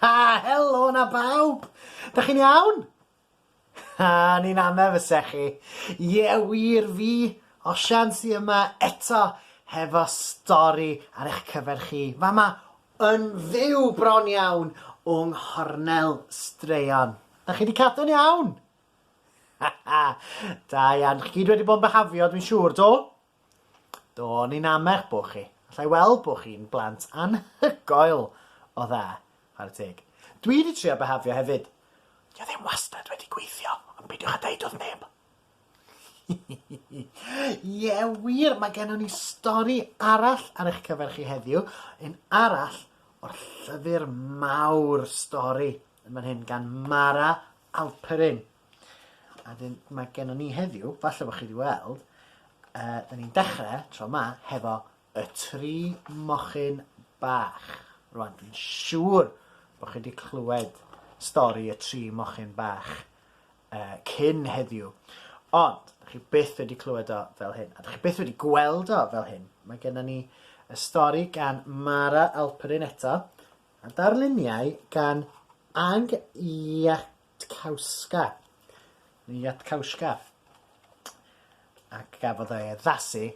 Ha, helo na bawb! Dych chi'n iawn? Ha, ni'n anna fyse chi. Ie, wir fi, Osian sy yma eto hefo stori ar eich cyfer chi. Fama yn fyw bron iawn o nghornel straeon. Dych chi wedi cadw'n iawn? Ha ha, da iawn. Chi gyd wedi bod yn byhafio, dwi'n siŵr, do? Do, ni'n amech bo chi. Alla i weld bo chi'n blant anhygoel o dda. Chwarae teg. Dwi wedi trio behafio hefyd. Dio ddim wastad wedi gweithio, ond peidiwch a deud wrth neb. Ie, wir, mae gennon ni stori arall ar eich cyfer chi heddiw, un arall o'r llyfr mawr stori yn fan hyn gan Mara Alperin. A wedyn mae gennon ni heddiw, falle bod chi wedi weld, uh, da ni'n dechrau tro yma hefo y tri mochyn bach. Rwan, dwi'n siŵr bod chi wedi clywed stori y tri mochyn bach uh, cyn heddiw. Ond, da chi byth wedi clywed o fel hyn, a da chi byth wedi gweld o fel hyn. Mae gennym ni y stori gan Mara Alperin eto, a darluniau gan Ag Iac Tkauska, neu Yatkauska, ac gafodd ei addasu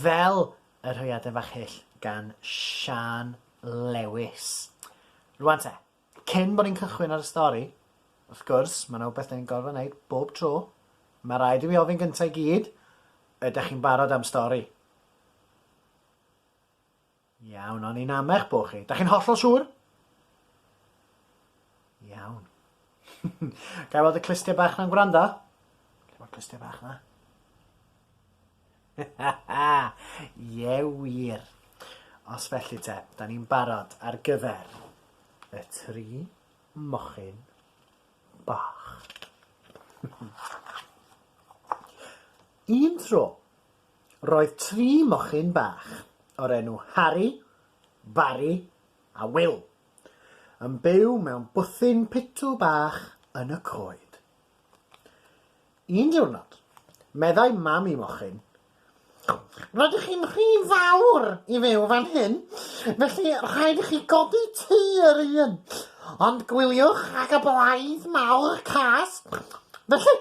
fel y rhaeadr fach hyll gan Siân Lewis. Rwan te, cyn bod ni'n cychwyn ar y stori, wrth gwrs, mae yna wbeth da ni'n gorfod wneud bob tro. Mae rhaid i fi ofyn gyntaf i gyd, ydych chi'n barod am stori? Iawn, o'n i'n amech bo chi. Da chi'n hollol siŵr? Iawn. Gael weld y clustia bach na'n gwrando? Lle mae'r clustia bach na? Ie wir. Os felly te, da ni'n barod ar gyfer y tri mochyn bach. Un tro, Roedd tri mochyn bach, o'r enw Harri, Barri a Wil, yn byw mewn bwthyn pitw bach yn y coed. Un diwrnod, meddai mam y mochyn, Rydych chi'n rhy fawr i fyw fan hyn, felly rhaid i chi godi tŷ yr un, ond gwyliwch ag y blaidd mawr cas, felly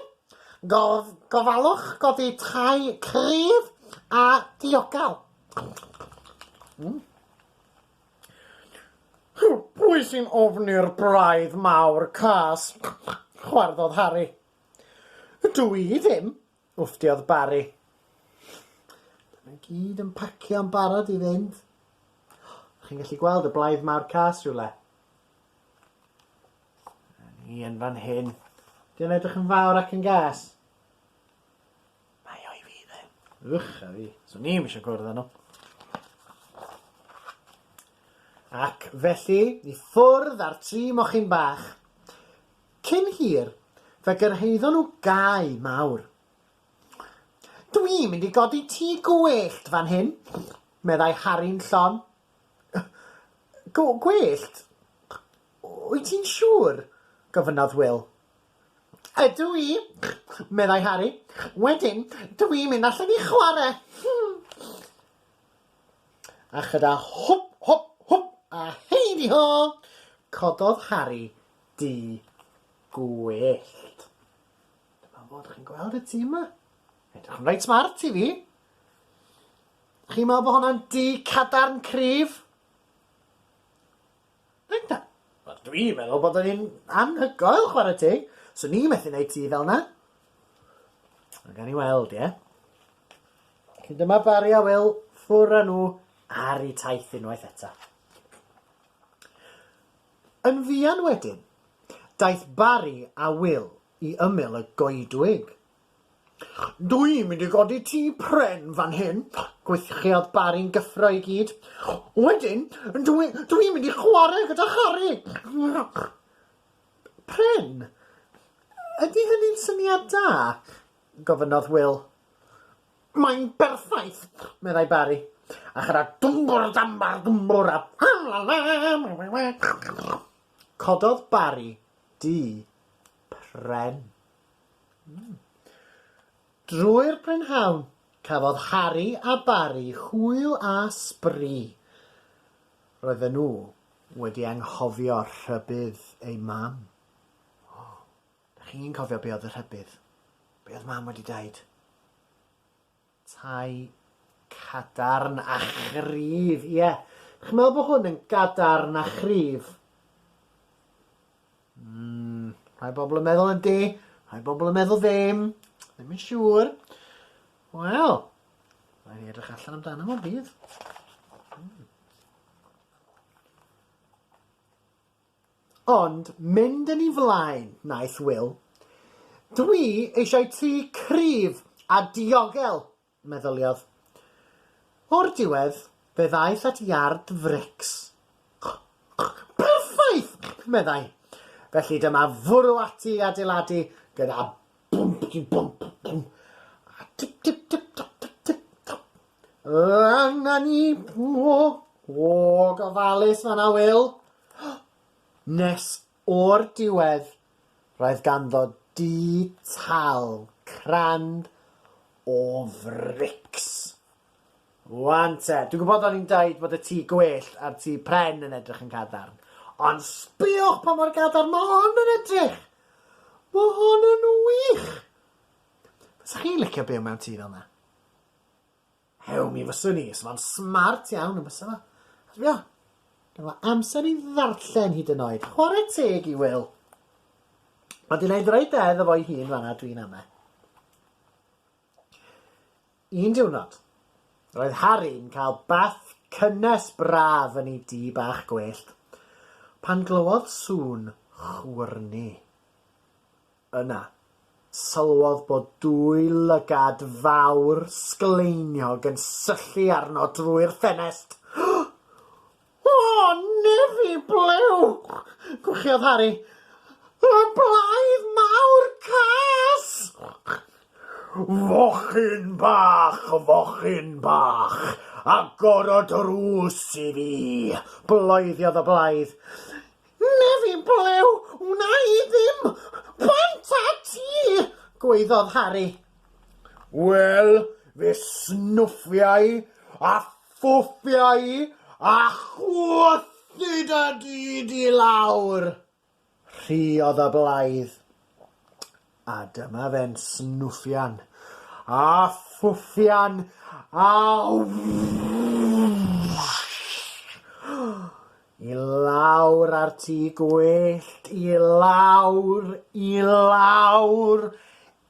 Gofalwch godi tai cryf a diogel. Pwy sy'n ofni'r braidd mawr cas? chwarddodd Harri. Dw i ddim, wfftiodd Barri. Maen nhw gyd yn pacio'n barod i fynd. Chi'n gallu gweld y blaidd mawr cas rhywle? A ni yn fan hyn. Di o'n edrych yn fawr ac yn gas? Mae o i fi dde. Ych a fi. So ni eisiau gwrdd â nhw. Ac felly, i ffwrdd â'r tri mochyn bach. Cyn hir, fe gyrhaeddon nhw gae mawr. Dwi'n mynd i godi tŷ gwyllt fan hyn, meddai Harry'n llon. Go- gwellt? Wyt ti'n siŵr? gofynnodd Wil. Ydw i, meddai Harri. Wedyn, dw i'n mynd allan i chwarae! A chyda hwp, hwp, hwp a heidi ho, cododd Harri dŷ gwyllt. Dyma fo, dych chi'n gweld y tŷ yma? Edrych yn reit smart i fi! Chi'n meddwl bod hwnna'n du cadarn cryf? Dwi'n ta- wel dwi'n meddwl bod o'n un anhygoel chwarae teg. So ni methu neud ti fel na. Ond gan i weld, ie? Cyn dyma Barry a Will ffwr a nhw ar i taith unwaith eto. Yn fuan wedyn, daeth Barry a Will i ymyl y goedwig Dw i'n mynd i godi tŷ pren fan hyn! gwyddiodd Barry'n gyffro i gyd. Wedyn, dw i, dw i'n mynd i chwarae gyda Harri! Pren? Ydy hynny'n syniad da? gofynnodd Wil. Mae'n berffaith! meddai Barry, a chara dwmbwr dambar dwmbwr a Cododd Barry dŷ pren. Drwy'r prynhawn, cafodd Harri a Barri hwyl a sbri. Roedden nhw wedi anghofio rhybudd eu mam. O, dych chi'n cofio be oedd y rhybudd? Be oedd mam wedi deud? Tai cadarn a chryf, ie. Chi'n meddwl bod hwn yn gadarn a chryf? Mm, rhai bobl yn meddwl ydy, rhai bobl yn meddwl ddim, ddim yn siŵr. Wel, rhaid i edrych allan amdano fo'n dydd. Ond mynd yn ei flaen, wnaeth Wil. Dwi eisiau tŷ cryf a diogel, meddyliodd. O'r diwedd, fe ddaeth at iard frics. Perffaith! meddai. Felly dyma fwrw ati i adeiladu gyda Bwmpty-bwmp-bwmp a tip-tip-tip-top-tip-tip-top. Angen ni mwy o gofalus fan 'na, Wil. Nes o'r diwedd, roedd ganddo dŷ tal crand o frics. Wan te, dwi'n gwybod o'n i'n dweud bod y tŷ gwyllt a'r tŷ pren yn edrych yn gadarn, ond sbïwch pa mor gadarn mae hon yn edrych! Mae hon yn wych! Fysa chi'n licio byw mewn tŷ fel 'na? Hew, mi fyswn i. Sa fo'n smart iawn, yn bysa fo? A sbio, gynno fo amser i ddarllen hyd yn oed. Chwarae teg i Wil. Mae 'di neud reit da iddo fo'i hun fanna, dwi'n ame. Un diwrnod, roedd Harry'n cael bath cynnes braf yn ei dŷ bach gwyllt, pan glywodd sŵn chwyrnu. Yna, sylwodd bod dwy lygad fawr sgleiniog yn syllu arno drwy'r ffenest. O, nefi blew! gwchiodd Harri. Y blaidd mawr cas! Fochyn bach, fochyn bach, agor y drws i fi! bloeddiodd y blaidd. Nefi blew, wna i ddim! Bant â ti! gwaeddodd Harri. Wel, fe snwffiai a Ffwfiai a chwythid y dyd i lawr. Rhuodd y blaidd, a dyma fe'n snwffian a ffwffian a wwssh! i lawr a'r tŷ gwyllt, i lawr, i lawr,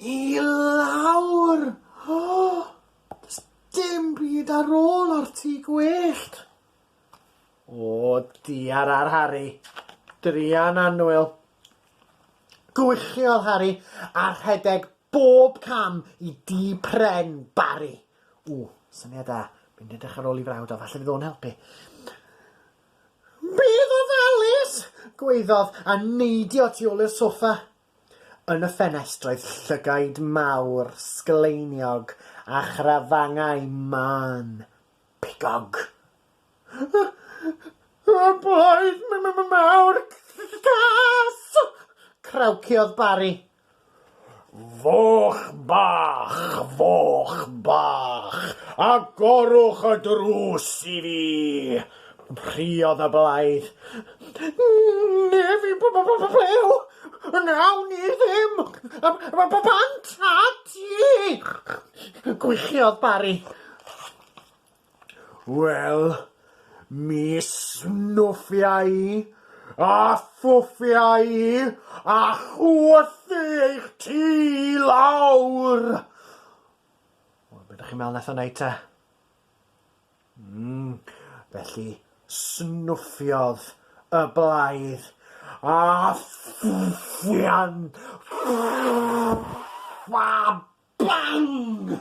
i lawr! Does dim byd ar ôl o'r tŷ gwyllt. O, diar ar Harri. Druan annwyl. Gwychiodd Harri a rhedeg bob cam i dŷ pren Barri. O, syniad da. Mynd edrych ar ôl i frawd o, falle fydd o'n helpu. Bydd ofalus! gwaeddodd a neidio tu ôl i'r soffa. Yn y ffenestr oedd llygaid mawr, sgleiniog, a chrafangau mân, pigog. Y blaid mawr cas! crawciodd Barry. Foch bach, foch bach, agorwch y drws i fi! Rhuodd y blaidd. Neb i bl-bl-bl-blew! Wnawn ni ddim! Bant a ti! Gwichiodd Barry. Wel, mi snwffia i, a thwffia i, a chwythu eich tŷ lawr! Wel, be da chi'n meddwl wnaeth o wneud te? Mm, felly snuffiodd y blaidd a ffwfian a bang!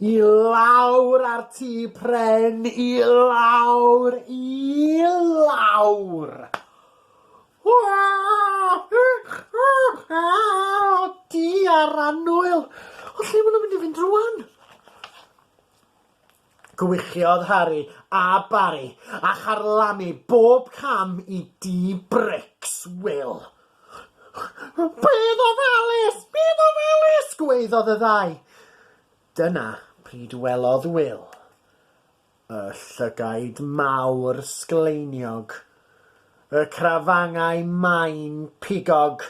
I lawr a'r tŷ pren, i lawr, i lawr! Di ar annwyl! O, lle maen nhw'n mynd i fynd rwan? Gwychiodd Harry a Barry a charlamu bob cam i dŷ brics Wil. Bedd ofalus! Bedd ofalus! gwaeddodd y ddau. Dyna pryd welodd Wil y llygaid mawr sgleiniog, y crafangau main pigog,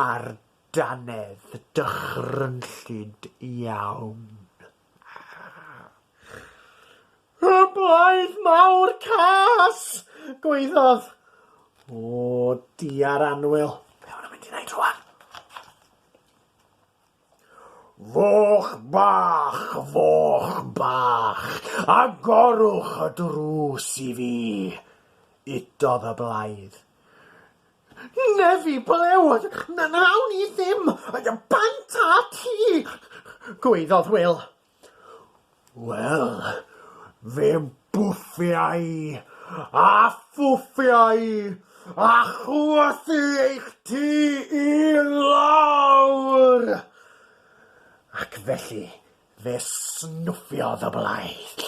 a'r dannedd dychrynllyd iawn. Y blaidd mawr cas! gwaeddodd. O, diar anwyl, be maen nhw'n mynd i wneud rwan? Foch bach, foch bach, agorwch y drws i fi, udodd y blaidd. Nefi, ble oedd na nawn ni ddim bant â ti? gwaeddodd Wil. Wel, fe bwffia i, a phwffia i, a chwythu eich tŷ i lawr! Ac felly Fe snwffiodd y blaidd,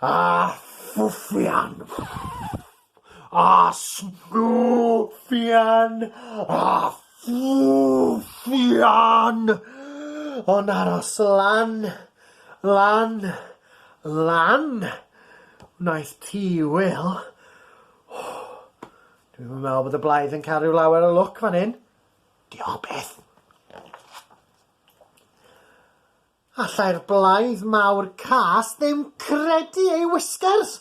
a thwffian, a snwffian, a thwffian, ond aros lan, lan, lan, wnaeth ti, Wil. Dwi'm yn meddwl bod y blaidd yn cael rhyw lawer o lwc fan hyn. Diolch byth. Allai'r blaidd mawr cas ddim credu ei wisgers!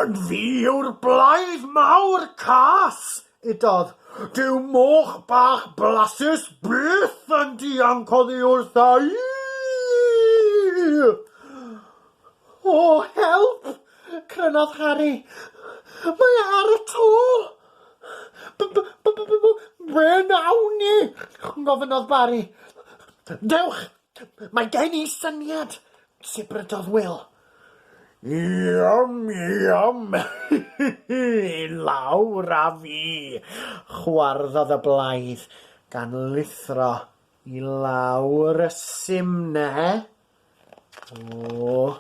Yn fi yw'r blaidd mawr cas! udodd. Dyw moch bach blasus byth yn dianc oddi wrtha i! O, help! crynodd Harri. Mae e ar y to! B- b- b- b- b- Ble nawn ni? gofynnodd Barry. Dewch! Mae gen i syniad! sibrydodd Wil. Iom, iom! Lawr â fi! chwarddodd y blaidd, gan lithro i lawr y simne. O!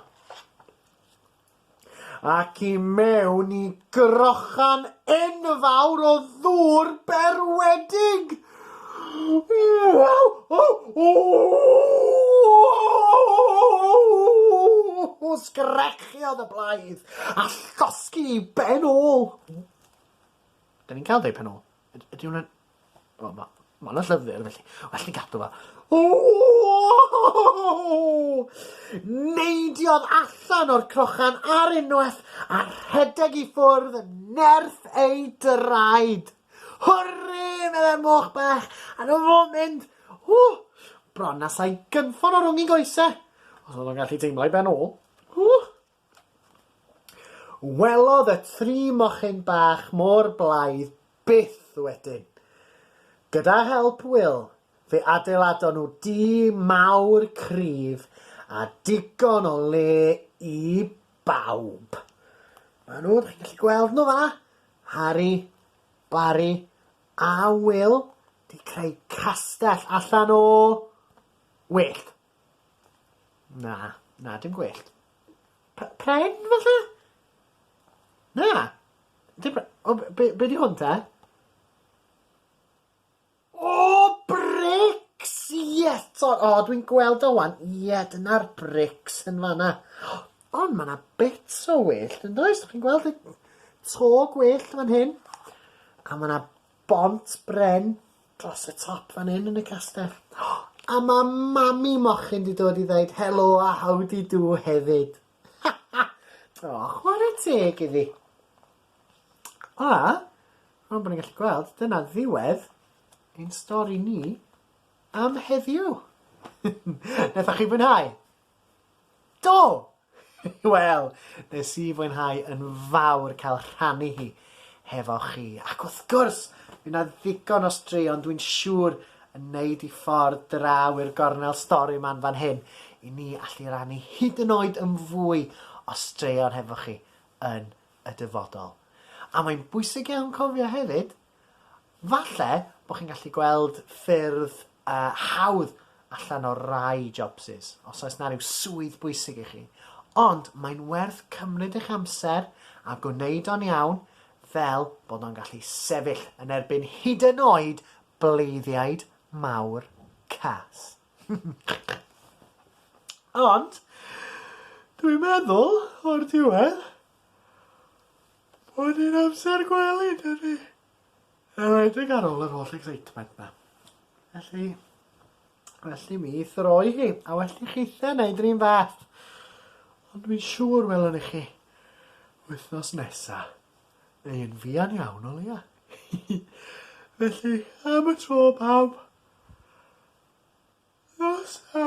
Ac i mewn i grochan enfawr o ddŵr berwedig! Waw! O! O! Sgrechiodd y blaidd a llosgi i ben ôl. Da ni'n cael dau pen ôl. Ydy hwnna'n... Wel, ma, ma hwnna llyfr, felly, well ni gadw fa. Neidiodd allan o'r crochan ar unwaith a rhedeg i ffwrdd yn nerth ei draed. Hwrri, meddai'r moch bach, a dyma fo mynd. Ww, bron na sai gynffon o rwng ei goesau, os oedd o'n gallu teimlo ei ben ôl. Ww! Welodd y tri mochyn bach mor blaidd byth wedyn. Gyda help Wil, fe adeiladon nhw dŷ mawr cryf a digon o le i bawb. Maen nhw, dych chi'n gallu gweld nhw fanna, Harri, Bari a Wil, wedi creu castell allan o wyllt. Na. Na dim gwellt. P- pren falle? Na. Dim pre- o b- be' be' 'di hwn te? O brics! Ie 'to. O dwi'n gweld o ŵan. Ie dyna'r brics yn fan 'na. Ond ma' 'na bits o wellt yndoes dych chi'n gweld y to gwellt fan hyn? A ma' 'na bont bren Dros y top fan hyn yn y castell. A ma mami mochyn di dod i ddeud helo a howdy do hefyd. Ha ha! O, chwarae teg iddi. A, rhwng bod ni'n gallu gweld, dyna ddiwedd ein stori ni am heddiw. Naethoch chi fwynhau? Do! Wel, nes i fwynhau yn fawr cael rhannu hi hefo chi. Ac wrth gwrs, fydd 'na ddigon o straeon dwi'n siŵr yn neud i ffordd draw i'r gornel stori 'ma'n fan hyn i ni allu rannu hyd yn oed yn fwy o straeon hefo chi yn y dyfodol. A mae'n bwysig iawn cofio hefyd Falle bod chi'n gallu gweld ffyrdd uh, hawdd allan o rai jobsys, os oes na rhyw swydd bwysig i chi. Ond mae'n werth cymryd eich amser a gwneud o'n iawn fel bod o'n gallu sefyll yn erbyn hyd yn oed bleiddiaid mawr cas. Ond, dwi'n meddwl, o'r diwedd, Hwn yn amser gwely, dydi? Yn enwedig ar ôl yr holl excitement ma. Felly, felly mi throi hi, a well i chi the wneud yr un fath. Ond mi'n siŵr welwn i chi wythnos nesa, neu yn fuan iawn o leia. felly, am y tro pawb, nos a...